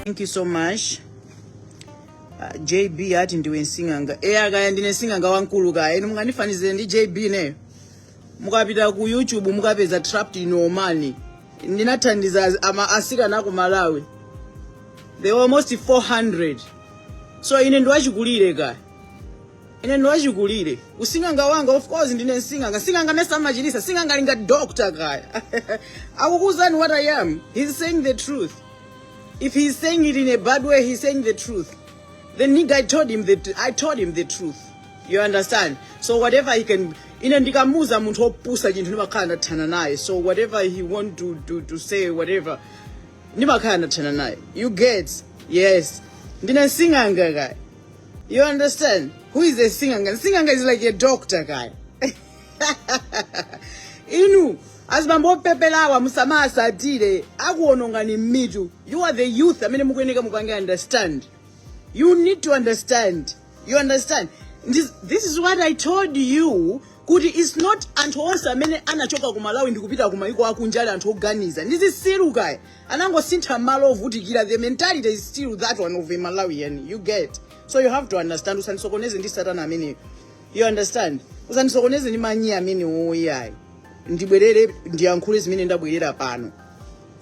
Thank you so much. Uh, JB ati ndiwe sing'anga. Eya kaya ndine nsing'anga wamkulu kaya. Inu mungandifanizire ndi JB neyo. Mukapita ku YouTube mukapeza trapped in Oman. Ndinathandiza asikana ku Malawi. They were almost 400. So ine ndiwachikulire kaya. Ine ndi wachikulire. Using'anga wanga of course ndine sing'anga. Sing'anga nsaa amachilitsa. Sing'anga ali ngati doctor kaya. Akukuuzani what I am. He's saying the truth. If he's saying it in a bad way, he's saying the truth. The nigga I told him the tr- I told him the truth. You understand? So whatever he can ine ndikamuuza munthu opusa chinthu ndimakhala ndathana naye. So whatever he want to to to say whatever ndimakhala ndathana naye. You get? Yes. Ndine sing'anga kaya. You understand? Who is a singanga? Singanga is like a doctor kaya. Inu, azibambo opeperawa musamawatsatire, akuonongani mitu. You are the youth, amene mukuyeneka mukange understand. You need to understand. You understand? This, this is what I told you kuti it's not anthu onse amene anachoka ku malawi ndikupita ku maiko akunja ali anthu oganiza ndi zitsiru kaya anangosintha malo ovutikira the mentality is still that one of a malawian you get so you have to understand usandisokoneze ndi satana ameneyo you understand usandisokoneze ndi manyi amenewo iyayi ndibwerere ndiyankhule zimene ndabwerera pano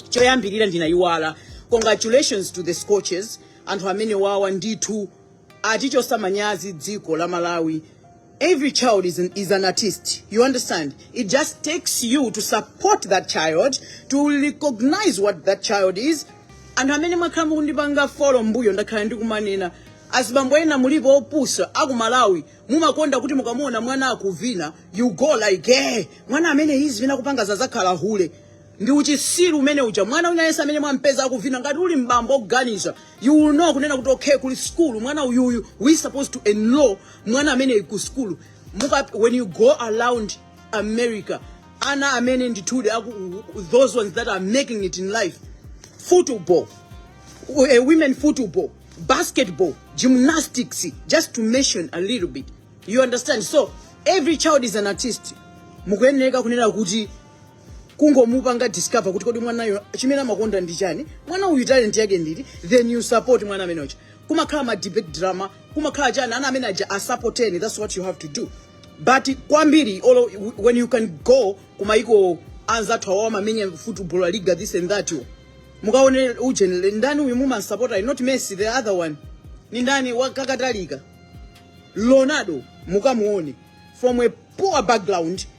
choyambirira ndinayiwala congratulations to the Scorchers anthu amenewawa ndithu atichotsa manyazi dziko la malawi every child is an, is an artist you understand it just takes you to support that child to recognize what that child is anthu amene mwakhala mukundipanga folo mbuyo ndakhala ndikumanena azibambo ena mulipo opusa akumalawi mumakonda kuti mukamuona mwana akuvina you go like eh mwana amene izivina kupanga azakhala hule ndi uchitsiru umene uja mwana wina yense amene mwampeza akuvina ngati uli m'bambo oganiza you will know kunena kuti okay kuli school mwana uyuyu we supposed to enroll mwana amene ku school muka when you go around america ana amene ndithudi aku- those ones that are making it in life football uh, women football, basketball, gymnastics, just to mention a little bit. You understand? So every child is an artist. Mukuyenera kunena kuti kungomupanga discover kuti kodi mwanayo chimene amakonda ndi chani mwana uyu talent yake ndi iti then you support mwana ameneyo cha kumakhala ma debate drama kumakhala chani ana amene aja asupporteni that's what you have to do but kwambiri olo when you can go kumaiko anzathu awo amamenya football la liga this and that yo mukaone ujeni ndani uyu mumasapota not messi the other one ni ndani wakakatalika Ronaldo mukamuone from a poor background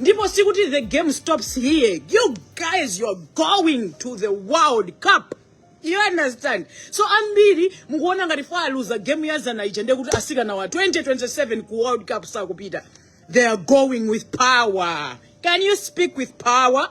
ndipo sikuti the game stops here you guys you're going to the world cup you understand so ambiri mukuona ngati poti aluza game ya zana ija ndiye kuti asikanawa 2027 ku world cup sakupita they are going with power can you speak with power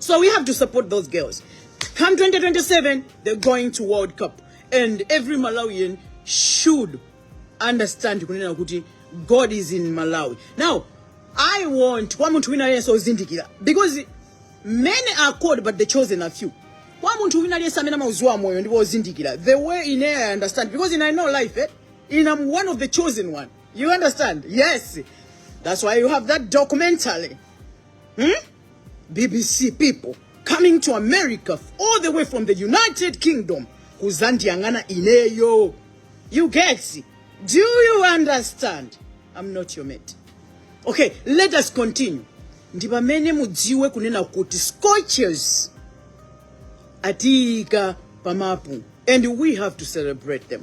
So we have to support those girls. Come 2027, they're going to World Cup. And every Malawian should understand kunena kuti God is in Malawi. Now, I want kwa munthu wina aliyense ozindikira because many are called but the chosen are few. Kwa munthu wina aliyense amene amauziwa moyo ndipo ozindikira the way in I understand because in I know life eh, in I'm one of the chosen one. You understand? Yes. That's why you have that documentary. Hmm? BBC people coming to America all the way from the United Kingdom kuzandiyang'ana ineyo. You get Do you understand? I'm not your mate. Okay, let us continue. Ndi pamene mudziwe kunena kuti scorches atika pamapu and we have to celebrate them.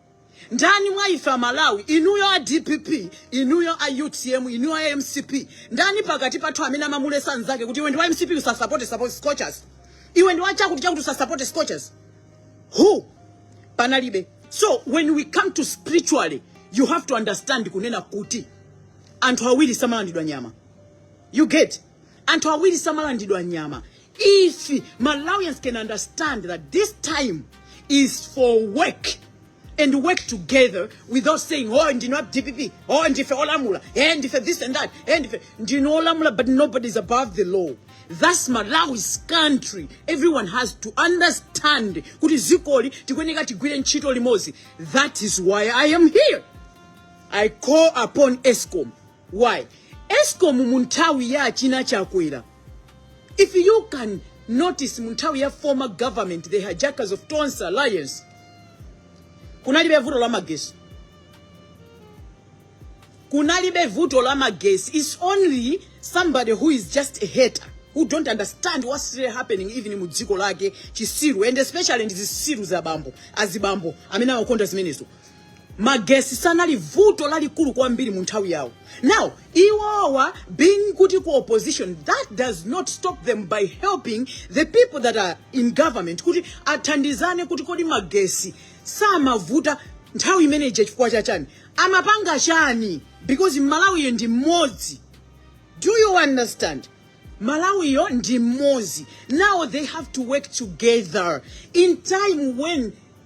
Ndani mwa ife a Malawi, inuyo a dpp, inuyo a utm, inuyo a mcp, ndani pakati pathu amene amamuletsa nzake kuti iwe ndi wa mcp usasapote scorchers? Iwe ndi wa chakuti chakuti usasapote scorchers? Who? Panalibe. So when we come to spiritually, you have to understand kunena kuti anthu awiri samalandidwa nyama. You get? anthu awiri samalandidwa nyama if malawians can understand that this time is for work and work together without saying oh ndi wa dpp oh ndife olamula eh ndife this and that eh ndife ndi olamula but nobody is above the law that's malawi's country everyone has to understand kuti dzikoli tikuyeneka tigwire ntchito limodzi that is why i am here i call upon escom Why? Escom munthawi ya achina Chakwera. If you can notice munthawi ya former government, the hijackers of Tonse Alliance, kunalibe vuto la magesi. Kunalibe vuto la magesi. It's only somebody who is just a hater. who don't understand what's really happening even in mudziko lake chitsiru and especially in ndi zitsiru za bambo azibambo amene amakonda zimenezo magesi sanali vuto lalikulu kwambiri mu nthawi yawo now iwowa being kuti ali ku opposition that does not stop them by helping the people that are in government kuti athandizane kuti kodi magesi samavuta nthawi imeneyi chifukwa cha chani amapanga chani because malawiyo ndi mmodzi do you understand malawiyo ndi mmodzi now they have to work together in time when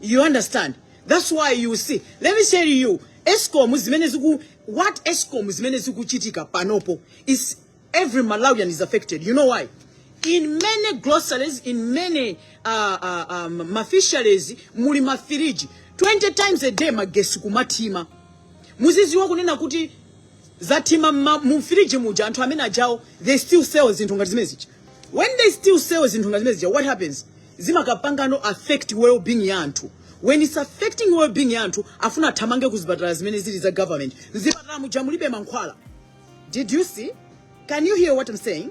You understand? That's why you see. Let me tell you, ESCOM zimene ziku what ESCOM zimene zikuchitika panopo is every Malawian is affected. You know why? In many groceries, in many uh, uh, um, mafisheries, muli mafiriji 20 times a day magesi kumathima. Muzidziwa kunena kuti zathima mma- mu firiji muja anthu amene ajawo they still sell zinthu ngati zimene zija. when they still sell zinthu ngati zimene zija what happens zimakapangano affect well being ya anthu when it's affecting well being ya anthu afuna athamangire ku zipatala zimene zili za government mzipatala muja mulibe mankhwala did you see can you hear what i'm saying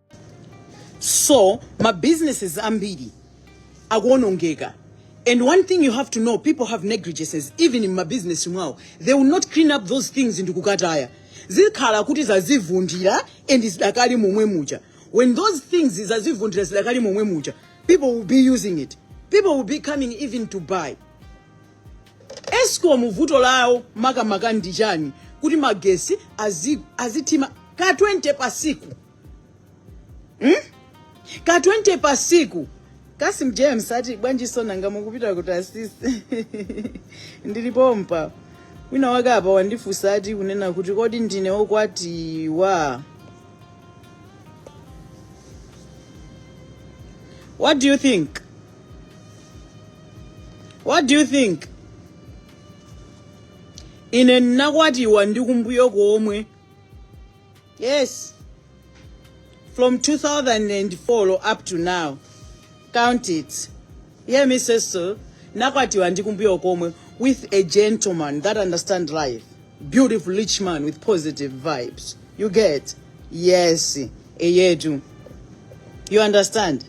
so ma businesses ambiri akuonongeka and one thing you have to know people have negligences even in ma business mwawo they will not clean up those things ndikukataya zikhala kuti zazivundira and zidakali momwe muja when those things zazivundira zidakali momwe muja people will be using it people will be coming even to buy escom vuto lawo makamaka ndi chani kuti magesi azi- azithima ka 20 pasiku hmm? ka 20 pasiku kasim james ati bwanji so nanga mukupita kuti asisi ndili pompa wina wake apa wandifunsa ati kunena kuti kodi ndine wokwatiwa what do you think what do you think ine ndinakwatiwa ndi kumbuyo komwe yes from 2004 up to now count it yeah mrs so nakwatiwa ndi kumbuyo komwe with a gentleman that understand life beautiful rich man with positive vibes you get yes eyetu you understand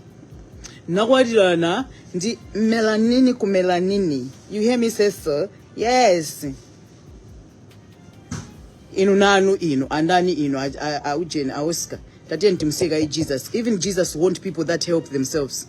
nakwatirana ndi melanini ku melanini you hear me say so yes inu nanu inu andani inu a- a- aujeni aoscar tatiyeni timseka ijesus even jesus want people that help themselves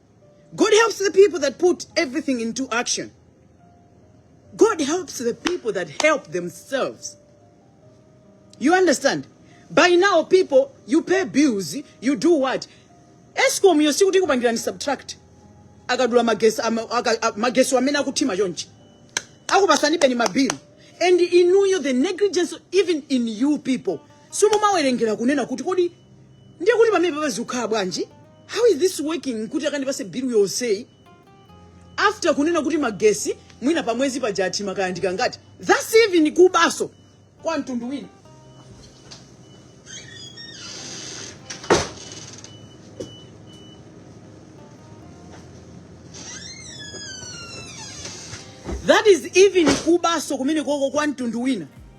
God helps the people that put everything into action. God helps the people that help themselves. You understand? By now, people, you pay bills, you do what? Escom, you see kuti ikupangirani subtract. akadula magesi ama- aka- a- magesi amene akuthima chonchi akupasanibeni mabilu and inuyo the negligence even in you people simumawerengera kunena kuti kodi ndiye kuti pamenepapa zikukhala bwanji how is this working kuti akandipase bill yonseyi after kunena kuti magesi mwina pamwezi paja athima kaya ndikangati thats even kubaso kwa mtundu wina that is even kubaso kumene koko kwa mtundu wina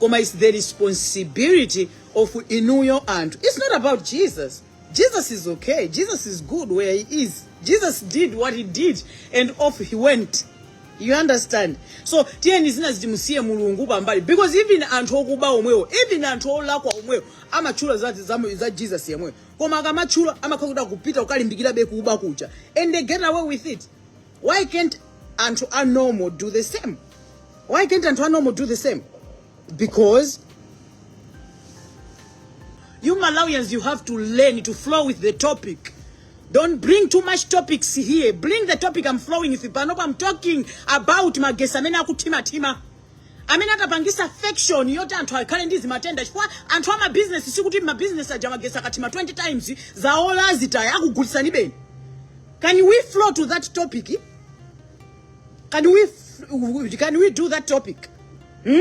koma its the responsibility of inuyo anthu its not about jesus jesus is okay jesus is good where he is jesus did what he did and off he went you understand so tiyeni zina zitimusiye mulungu pambali because even anthu okuba omwewo even anthu olakwa omwewo amatchula za, za, za jesus yemweyo koma akamatchula amakhala kuti akupita kukalimbikirabe kuba kuja and they get away with it why can't anthu a normal do the same why can't anthu a normal do the same because you malawians you have to learn to flow with the topic don't bring too much topics here bring the topic i'm flowing with it panopo i'm talking about magesi amene akuthimathima amene atapangisa infection yoti anthu akhale ndi zimatenda chifukwa anthu amabizinesi sikuti mabizinesi aja magesi akathima 20 times zaola zitaya akugulisanibeni Can we flow to that topic? Can we can we do that topic? Hmm?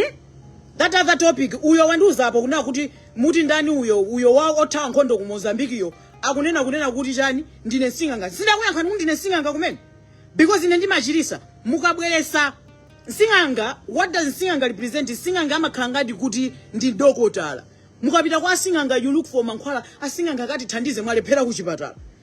That other topic uyo wanduza apo kuna kuti muti ndani uyo uyo wothawa nkhondo ku Mozambique-yo akunena kunena kuti chani ndine sing'anga sindakuyankha kuti ndine sing'anga kumene because ine ndimachirisa mukabweresa sing'anga what does sing'anga represent sing'anga amakhala ngati kuti ndi dokotala mukapita kwa sing'anga you look for mankhwala asing'anga akatithandize mwalephera kuchipatala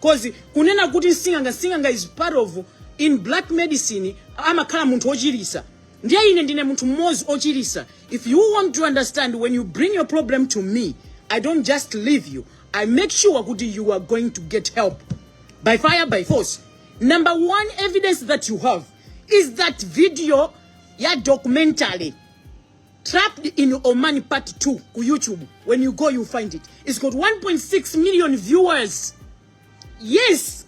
Cause kunena kuti nsing'anga nsing'anga is part of in black medicine amakhala munthu ochilisa. Ndiye ine ndine munthu mmodzi ochilisa. If you want to understand when you bring your problem to me, I don't just leave you. I make sure kuti you are going to get help by fire by force. Number one evidence that you have is that video ya documentary Trapped in Oman Part 2 ku YouTube. When you go, you find it. It's got 1.6 million views. Yes.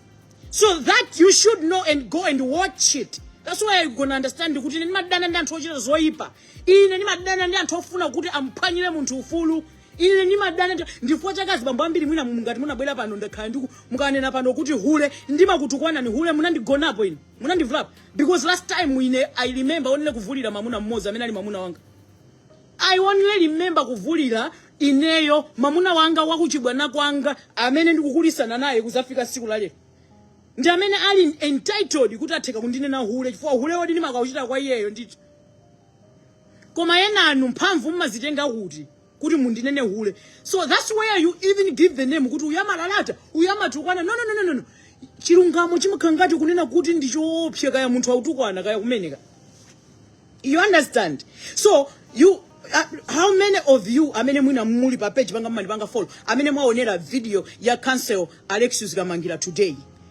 So that you should know and go and watch it. That's why you're gonna understand kuti ine ndimadana ndi anthu ochita zoyipa. Ine ndimadana ndi anthu ofuna kuti amphwanyire munthu ufulu. Ine ndimadana ndi dziwa chakazi bambo ambiri mwina mungati munabwera pano ndakhala ndiku mukanena pano kuti hule ndimakutukwanani hule munandigonapo ine. munandivulapo because last time ine i remember only kuvulira mamuna mmodzi amene ali mamuna wanga i only remember kuvulira ineyo mamuna wanga wakuchibwana kwanga amene ndikukulisana naye kuzafika siku la lero ndi amene ali entitled kuti atheka kundinena hule chifukwa uhulewo ndimakauchita kwa iyeyo ndithu koma enanu mphamvu mmazitenga kuti kuti mundinene hule so that's where you even give the name kuti uyu amalalata uyu amatukwana no, no, no, no, no, no. chilungamo chimakhala ngati kunena kuti ndi choopsa kaya munthu autukwana kaya kumeneka you understand so you uh, how many of you amene mwina muli pa page panga mumandipanga follow amene mwaonera video ya counsel alexius kamangila today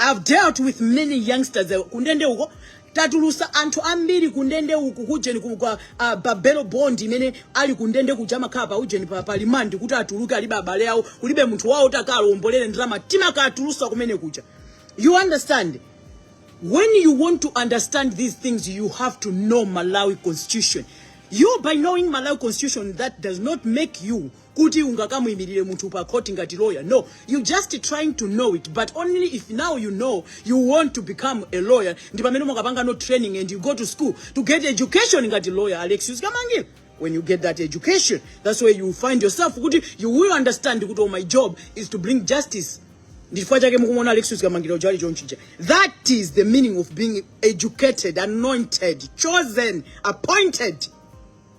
I've dealt with many youngsters uh, kundende uko tatulusa anthu ambiri kundende uku kujeni ku kwa uh, bail bond imene ali kundende kuja amakhala pa ujeni pa, pa remand kuti atuluke alibe abale awo kulibe munthu wawo woti akalombolere ndalama timakatulusa kumene kuja you understand when you want to understand these things you have to know malawi constitution you by knowing malawi constitution that does not make you kuti ungakamuimirire munthu pa court ngati lawyer no you just trying to know it but only if now you know you want to become a lawyer ndi pamene umakapanga no training and you go to school to get education ngati lawyer alex uzikamangire when you get that education that's where you find yourself kuti you will understand kuti oh, my job is to bring justice ndifukwa chake mukumona alex uzikamangire uja ali chonchija that is the meaning of being educated anointed chosen appointed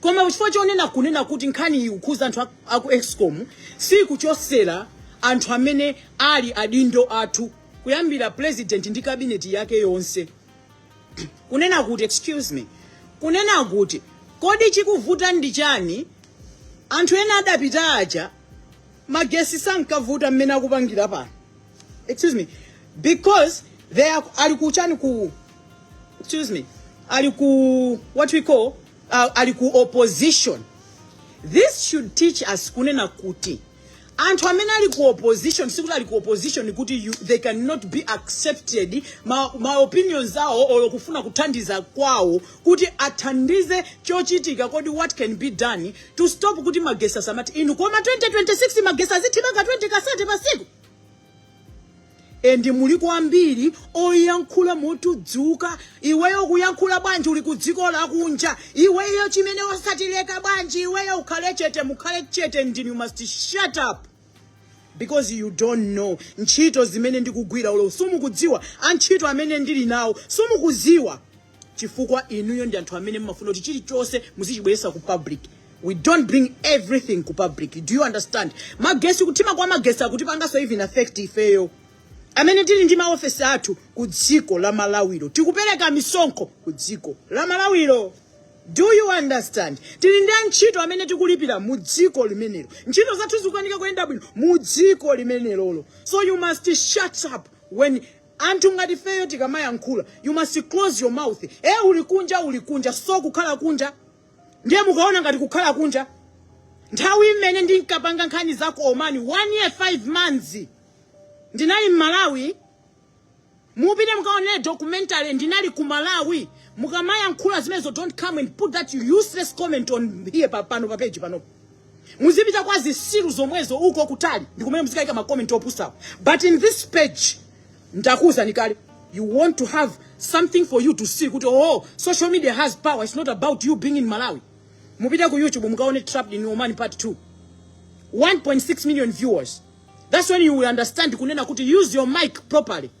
koma chifukwa chonena kunena kuti nkhani iyi kukhuza anthu a- aku escom sikuchotsera anthu amene ali adindo athu kuyambira president ndi kabineti yake yonse kunena kuti excuse me kunena kuti kodi chikuvuta ndi chani anthu ena adapita aja magesi sankavuta mmene akupangira pano excuse me because they are ali ku chani ku excuse me ali ku what we call uh, ali ku opposition this should teach us kunena kuti anthu amene ali ku opposition sikuti ali ku opposition kuti you, they cannot be accepted ma, ma opinions awo or kufuna kuthandiza kwawo kuti athandize chochitika kodi what can be done to stop kuti magesi asamati inu koma 2026 magesi azithimabe 20 kasate pasiku and mulipo ambiri oyankhula motudzula iweyo ukuyankhula bwanji uli kudziko lakunja iweyo chimene osatileka bwanji iweyo ukhale chete mukhale chete and you must shut up because you don't know ntchito zimene ndikugwira olo sumukudziwa antchito amene ndili nawo sumukuziwa chifukwa inuyo ndi anthu amene mmafuna kuti chilichonse muzichibweresa ku public we don't bring everything ku public do you understand magesi kuthima kwa magesi akutipanganso even affect ifeyo amene tili ndi maofesi athu ku dziko la malawiro tikupereka misonkho ku dziko la malawiro do you understand tili ndi antchito amene tikulipira mu dziko limenelo ntchito zathu zikukanika kuyenda bwino mu dziko limenelo lo so you must shut up when Anthu ngati ifeyo tikamayankhula you must close your mouth ee uli kunja uli kunja so kukhala kunja ndiye mukuona ngati kukhala kunja nthawi imene ndinkapanga nkhani za ku Oman 1 year 5 months ndinali m'Malawi mupite mukaonere documentary ndinali ku Malawi mukamayankhula zimenezo don't come and put that useless comment on here pa- pano pa page panopo muzipita kwa zisiru zomwezo uko kutali ndikumene muzikaika makoment opusawo but in this page ndakuwuzani kale you want to have something for you to see kuti oo social media has power it's not about you being in malawi mupite ku youtube mukaone trapped in oman part 2 1.6 million viewers that's when you will understand kunena kuti use your mic properly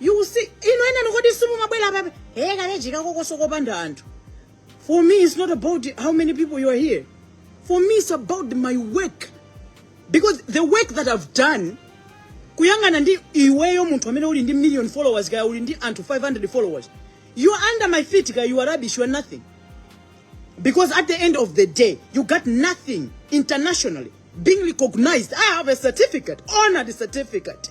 You will see. Inu enanu kodi simumabwera pape. Hey, kaleji kakokoso kopanda anthu. For me, it's not about how many people you are here. For me, it's about my work. Because the work that I've done, kuyangana ndi iweyo munthu amene uli ndi million followers kaya uli ndi anthu 500 followers. You are under my feet kaya you are rubbish, you are nothing. Because at the end of the day, you got nothing internationally being recognized. I have a certificate, honored certificate.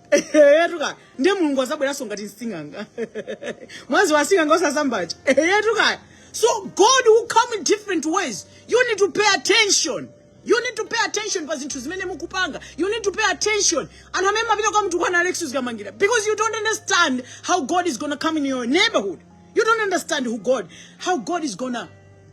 eyetu ka ndiye mulungu azabweranso ngati msing'anga mwadziwa sing'anga osazambacha eyetu ka so god will come in different ways you need to pay attention you need to pay attention pa zinthu zimene mukupanga you need to pay attention anthu amene mumapita kwa mtu kwana alex uzikamangila because you don't understand how god is gonna come in your neighborhood you don't understand who god how god is gonna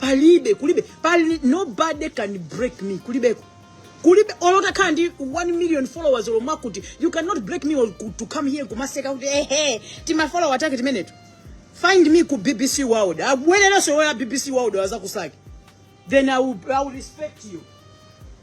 palibe kulibe pali nobody can break me kulibeko kulibe olo utakhala ndi 1 million followers olo mwakuti you cannot break me or ku- to come here kumaseka kuti ehe timafolowa take timeneto find me ku bbc world abwererenso yoya bbc world azakusake then I will, I will respect you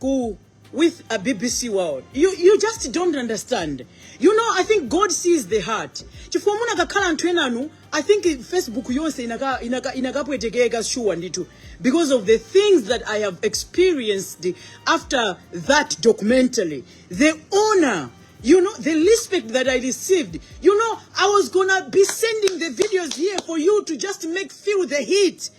ku with a bbc world you, you just don't understand you know i think god sees the heart chifukwa munakakhala anthu enanu i think facebook yonse inaka- inaka- inakapwetekeka sure ndithu because of the things that i have experienced after that documentary the honor you know the respect that i received you know i was gonna be sending the videos here for you to just make feel the heat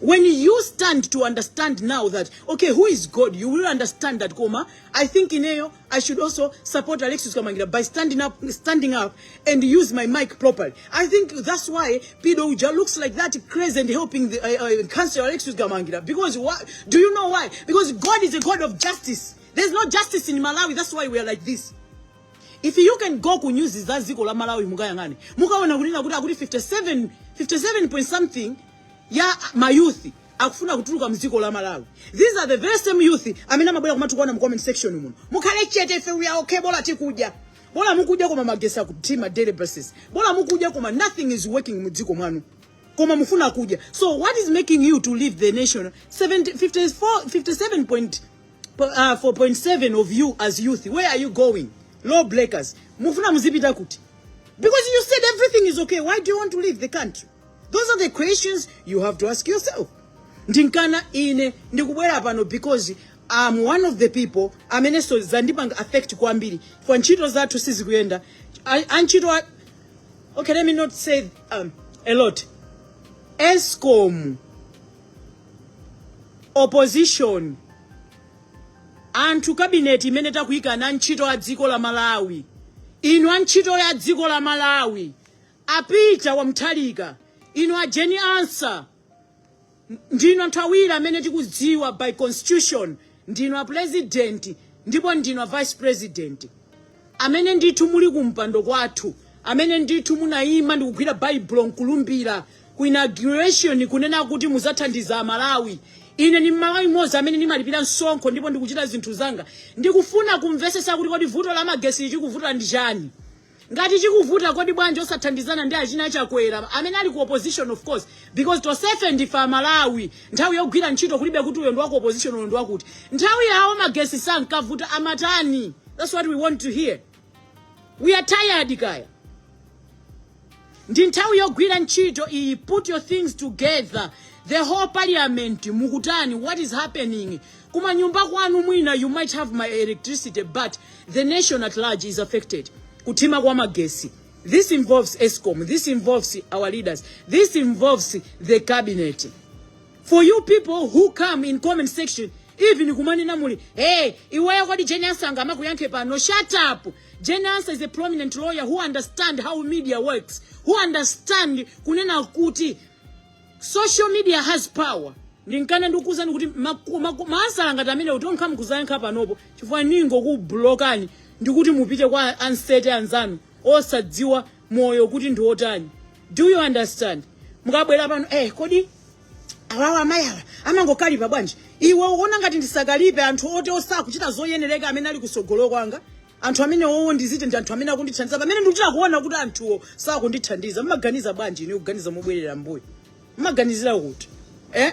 when you stand to understand now that okay who is god you will understand that koma i think ineyo i should also support alexis kamangila by standing up standing up and use my mic properly i think that's why pido uja looks like that crazy and helping the uh, uh, cancer alexis kamangila because why do you know why because god is a god of justice there's no justice in malawi that's why we are like this if you can go ku news za dziko la malawi mukayang'ane mukaona kunena kuti akuti 57 57 point something ya mayouth akufuna kutuluka mdziko la malawi these are the very same youth amene amabwera kumatukwana mu comment section muno mukhale chete ife we are okay bola tikudya bola mukudya koma magesi akutima daily basis bola mukudya koma nothing is working mu dziko mwanu koma mufuna kudya so what is making you to leave the nation 70, 54, 57 point uh, 4.7 of you as youth where are you going law breakers mufuna muzipita kuti because you said everything is okay why do you want to leave the country those are the questions you have to ask yourself ndinkana ine ndikubwera pano because am one of the people amenenso zandipanga affect kwambiri chifukwa ntchito zathu sizikuyenda A- antchito a- okay let me not say um, a lot escom opposition anthu kabineti imene takuyika na ntchito ya dziko la Malawi inu a ntchito ya dziko la Malawi a Peter wa Mutharika inu a Jane Ansah ndinu anthu awiri amene tikudziwa by constitution Ndinu a President ndipo ndinu a Vice President amene ndithu muli ku mpando kwathu, amene ndithu munaima ndikugwira Baibulo nkulumbira ku inauguration kunena kuti muzathandiza a Malawi. Ine ndi Mmalawi mmodzi amene ndimalipira msonkho ndipo ndikuchita zinthu zanga. Ndikufuna kumvesesa kuti kodi vuto la magesi chikuvuta ndi chani? Ngati chikuvuta kodi bwanji osathandizana ndi achina Chakwera amene ali ku opposition of course because tonsefe ndife Amalawi nthawi yogwira ntchito kulibe kuti uyo ndi waku opposition uyo ndi wakuti nthawi yawo magesi sankavuta amatani that's what we want to hear we are tired kaya ndi nthawi yogwira ntchito iyi put your things together the whole parliament mukutani what is happening kuma nyumba kwanu mwina you might have electricity but the nation at large is affected kuthima kwa magesi this involves escom this involves our leaders this involves the cabinet for you people who come in comment section even kumanena muli hey iweyo kodi Jane Ansah angakuyankhe pano shut up Jane Ansah is a prominent lawyer who understand how media works, who understand kunena kuti social media has power. Ndinkana ndikuwuzani kuti maku- maku- maansala ngati amenewo kuti okha nkuzayankha panopo chifukwa ndingokublokani ndikuti mupite kwa ansete anzanu osadziwa moyo kuti ndi otani. Do you understand? Mukabwera pano eh kodi awawa amayiwa amangokalipa bwanji iwe uona ngati ndisakalipe anthu oti osakuchita zoyenereka amene ali kusogolo kwanga anthu amene owo ndiziti ndi anthu amene akundithandiza pamene ndikuchita kuona kuti anthuwo sakundithandiza mmaganiza bwanji ine kuganiza mobwerera mbuyo mmaganizira kuti eh?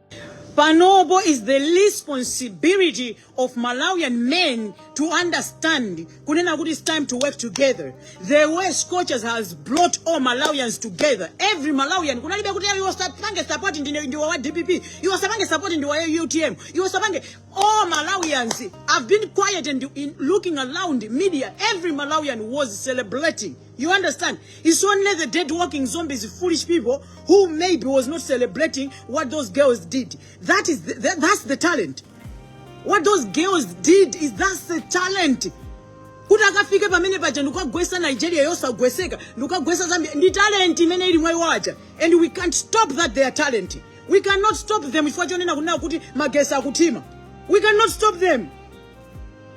Panopo is the responsibility of Malawian men to understand kunena kuti it's time to work together. The way Scorchers has brought all Malawians together. Every Malawian kunalibe kuti you wasapange support ndine ndiwa wa DPP, you wasapange support ndiwa wa UTM, you wasapange all Malawians have been quiet and in looking around media. Every Malawian was celebrating. You understand? It's only the dead walking zombies, foolish people who maybe was not celebrating what those girls did. That is the, that, that's the talent. What those girls did is that's the talent. kuti akafike pamene paja ndikukagwesa nigeria yosagweseka ndikukagwesa zambia ndi talent imene ili mwa iwo aja and we can't stop that their talent we cannot stop them chifukwa chonena kunena kuti magesi akuthima we cannot stop them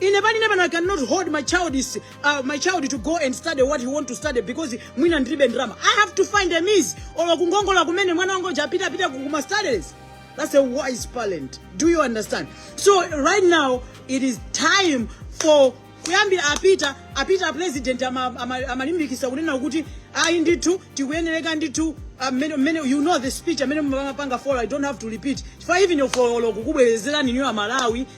ine pali ine pano i cannot hold my child is uh, my child to go and study what he want to study because mwina ndilibe ndalama i have to find a means or kungongola kumene mwana wangu uja apita apita kuma studies that's a wise parent do you understand so right now it is time for kuyambira apita apita apresident ama- ama- amalimbikisa kunena kuti ayi ndithu tikuyenereka ndithu amene amene you know the speech amene mapanga follow i don't have to repeat chifukwa even if I follow kukubwerezerani inuyo amalawi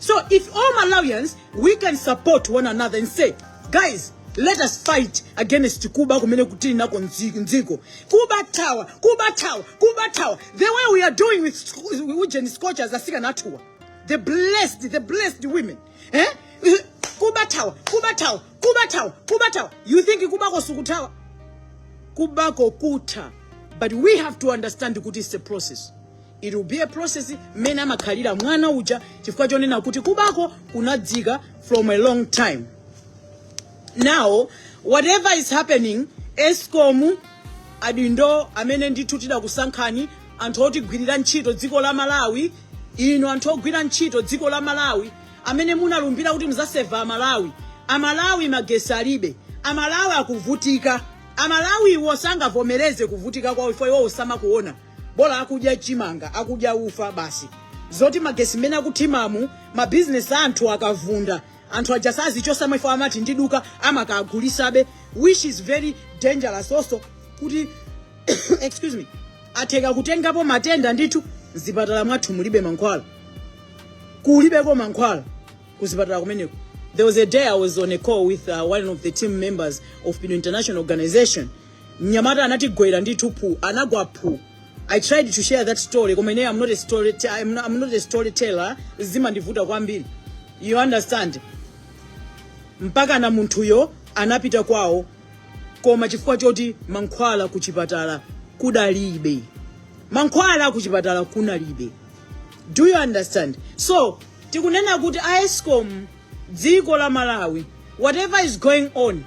So if all Malawians, we can support one another and say, guys, let us fight against Kuba kumene kutili nako nzi- nziko. Kuba tower, Kuba tower, Kuba tower. The way we are doing with sc- Ujeni scorchers asikana athuwa. The blessed, the blessed women. Eh? Kuba tower, Kuba tower, Kuba tower, Kuba tower. You think Kuba kosuku tower? Kuba kokuta. But we have to understand kuti it's a process. It will be a process mmene amakhalira mwana uja chifukwa chonena kuti kubako kunadzika from a long time. Now whatever is happening Escom adindo amene ndithu tidakusankhani anthu otigwirira ntchito dziko la Malawi ino anthu ogwira ntchito dziko la Malawi amene munalumbira kuti muzaseva Amalawi Amalawi magesi alibe Amalawi akuvutika Amalawi iwo sangavomereze kuvutika kwawo if iwo osamakuona bola akudya chimanga akudya ufa basi zoti magesi mmene akuthimamu mabizinesi a anthu akuvunda anthu aja sazichosa mu freezer amati ndiluza amakagulisabe which is very dangerous komanso kuti excuse me atheka kutengapo matenda ndithu mzipatala mwathu mulibe mankhwala kulibeko mankhwala kuzipatala kumeneko there was a day i was on a call with uh, one of the team members of pino international organization Mnyamata anatigwera ndithu phu anagwa phu I tried to share that story koma ineyo I'm not a story I'm not, I'm not a storyteller zimandivuta kwambiri you understand mpakana munthuyo anapita kwawo koma chifukwa choti mankhwala ku chipatala kudalibe mankhwala ku chipatala kunalibe do you understand so tikunena kuti a escom dziko la malawi whatever is going on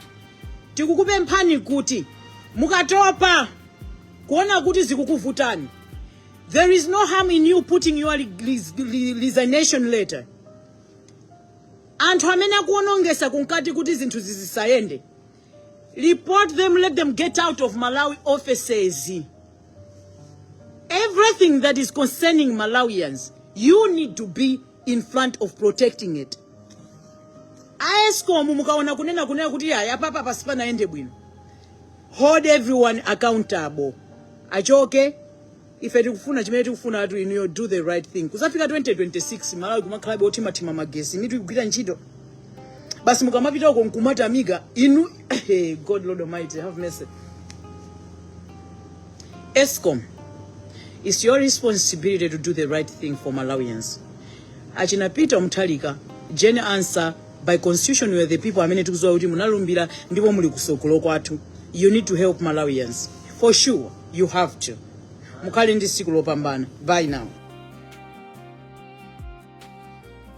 Tikukupemphani kuti mukatopa kuona kuti zikukuvutani, there is no harm in you putting your resignation letter. Anthu amene akuonongesa kunkati kuti zinthu zisayende, report them, let them get out of Malawi offices. Everything that is concerning Malawians, you need to be in front of protecting it a escom mukaona kunena kunena kuti ayi apapa sipanayende bwino hold everyone accountable achoke ife tikufuna chimene tikufuna anthu inuyo do the right thing kuzafika 2026 malawi kumakhalabe othimathima magesi mitu ikugwira ntchito basi mukamapita uko nkumatamika inu god lord almighty have mercy Escom, it's your responsibility to do the right thing for Malawians. Achina Peter Muthalika, Jane Ansah, by constitution we are the people amene tikuziwa kuti munalumbira ndipo muli kusogolo kwathu. You need to help Malawians. For sure, you have to. Mukhale ndi siku lopambana. Bye now.